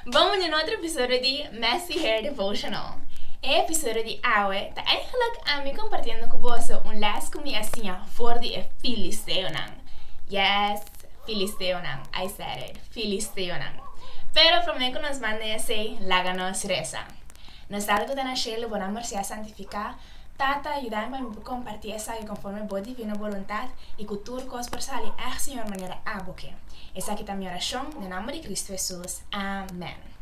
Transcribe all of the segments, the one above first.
Bon muña na otro episodio di Messy Hair Devotional. E episodio di awe ta eigenlik ami compartiendo cu boso un les cu mi a siña for di e filisteonan. Yes, filisteonan, I said it, filisteonan. Pero prome cu nos manda esey, laga nos reza. Nos tabata cu ta na shelo bo nan mercé a santifica Tata, yudain pa mi por kompartí esaki konforme Bo divino boluntat i ku tur kos por sali èg siñor manera Abo ke. Esaki ta mi orashon den nomber di Kristu Hesus. Amèn.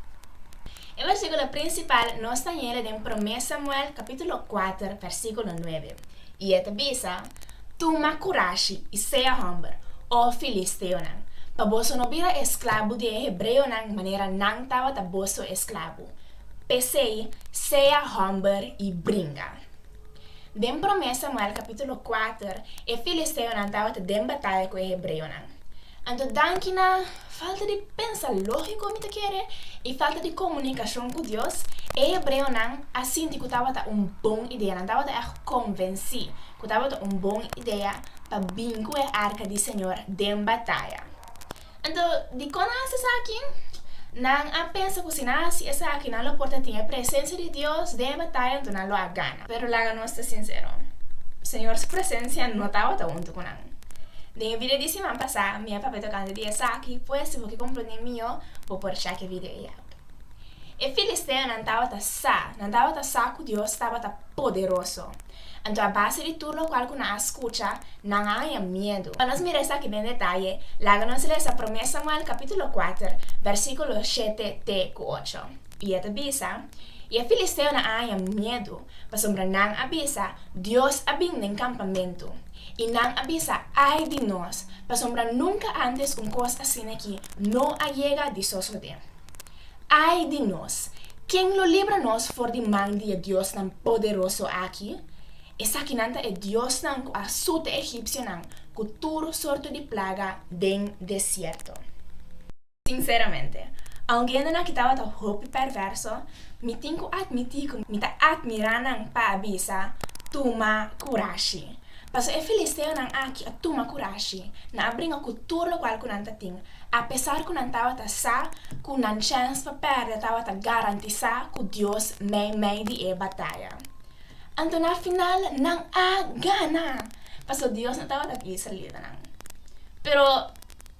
E versíkulo prinsipal nos ta yende den Promé Samuel kapítulo kuater versíkulo nuebe, i e ta bisa, Tuma kurashi i sea hòmber, O filisteonan, pa boso no bira esklabo di e hebreonan manera nan tabata boso esklabo. P'esei, sea hòmber i bringa. Den Promé Samuel kapítulo kuater, e filisteonan tabata den bataya ku e hebreonan. Anto danki na falta di pensa lógiko, mi ta kere, i falta di komunikashon ku Dios, e hebreonan a sinti ku tabata un bon idea, nan tabata ègt konvensí ku tabata un bon idea pa bin ku e Arka di Señor den bataya. Anto, dikon nan a hasi esaki? Nan a pensa ku si nan hasi esaki nan lo por ta tin e presensia di Dios den e bataya, anto nan lo a gana. Pero laga nos ta sinsero, Señor su presensia no tabata huntu ku nan. Den e video di siman pasá mi a papia tokante di esaki, pues si bo ke komprondé mihó, bo por chèk e video ei aki. E filisteonan tabata sa, nan tabata sa ku Dios tabata poderoso. Anto a base di tur lokual ku nan a skucha, nan a haña miedu. Pa nos mira esaki den detaye, laga nos lesa Promé Samuel kapítulo kuater, bèrsikulo shete te ku ocho. I e ta bisa, I e filisteonan a haña miedu, pasobra nan a bisa, Dios a bin den kampamentu. I nan a bisa, Ai di nos, pasobra nunka ántes un kos asina aki no a yega di sosodé. Ai di nos! Ken lo libra nos for di man di e diosnan poderoso aki? Esakinan ta e diosnan ku a sut e egipsionan ku tur sorto di plaga den desierto. Sinseramente, aunke hendenan ki tabata hopi perverso, mi tin ku atmití ku mi ta atmirá nan pa a bisa, Tuma kurashi! Pasobra e filisteonan aki a tuma kurashi, nan a bringa ku tur lokual ku nan ta tin. Apesar ku nan tabata sa ku nan chèns pa pèrdè tabata garantisá ku Dios meimei di e bataya. Anto na final nan a gana, pasobra Dios no tabata ku israelitanan. Pero,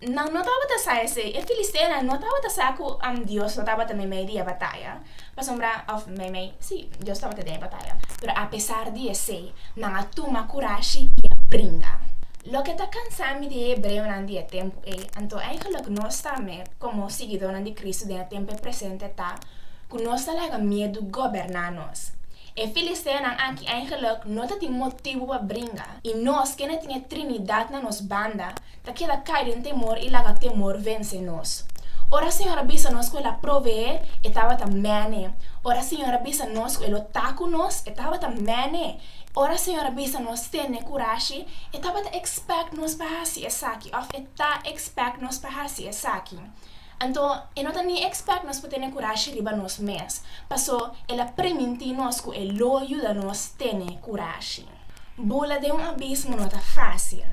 Nan no tabata sa esei, e filisteonan no tabata sa ku Dios no tabata meimei di e bataya, pasobra, òf meimei, sí, Dios tabata den e bataya. Pero apesar di esei, nan a tuma kurashi i a bringa. Loke ta kansa mi di e hebreonan di e tempu ei, anto eingeluk nos tambe, komo siguidónan di Kristu den e tempu presente, ta ku nos ta laga miedu goberná nos. E filisteonan aki eingeluk no ta tin motibu pa bringa, i nos, kende tin e Trinidat na nos banda, Ta keda kai den temor i laga temor vense nos. Ora Señor a bisa nos ku El a proveé, E tabata mene. Ora Señor a bisa nos ku E lo ta ku nos, E tabata mene. Ora Señor a bisa nos tene kurashi, E tabata expect nos pa hasi esaki òf E ta expect nos pa hasi esaki. Anto E no ta ni expect nos pa tene kurashi riba nos mes. Paso, El a primintí nos ku E lo yuda nos tene kurashi. Bula den un abismo no ta fásil,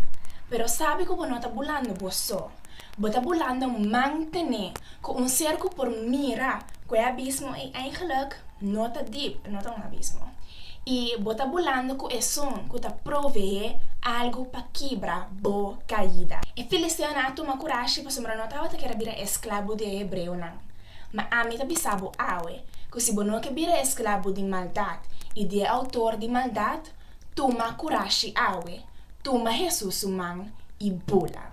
pero sabe ku bo no ta bulando bo so, bo ta bulando mantené ku un ser ku por mira ku e abismo ei eindelijk no ta dip, no ta un abismo, i bo ta bulando ku Esun ku ta proveé algu pa kibra bo kaida. E filisteonan a tuma kurashi pasobra no tabata kere bira esklabo di e hebreonan. Ma ami ta bisa bo awe, ku si bo no ke bira esklabu di maldat i di e outor di maldat, tuma kurashi awe, tuma Hesus su man i bula.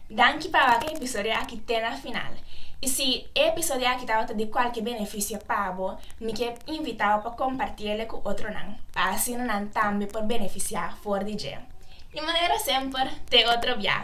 Danki pa wak e episodio aki te na final. I si e episodio aki tabata di kualke benefisio pa bo, mi ke invita bo pa komparti ele ku otronan, pa asina nan tambe por benefisiá for di dje. Di manera semper, te otro bia!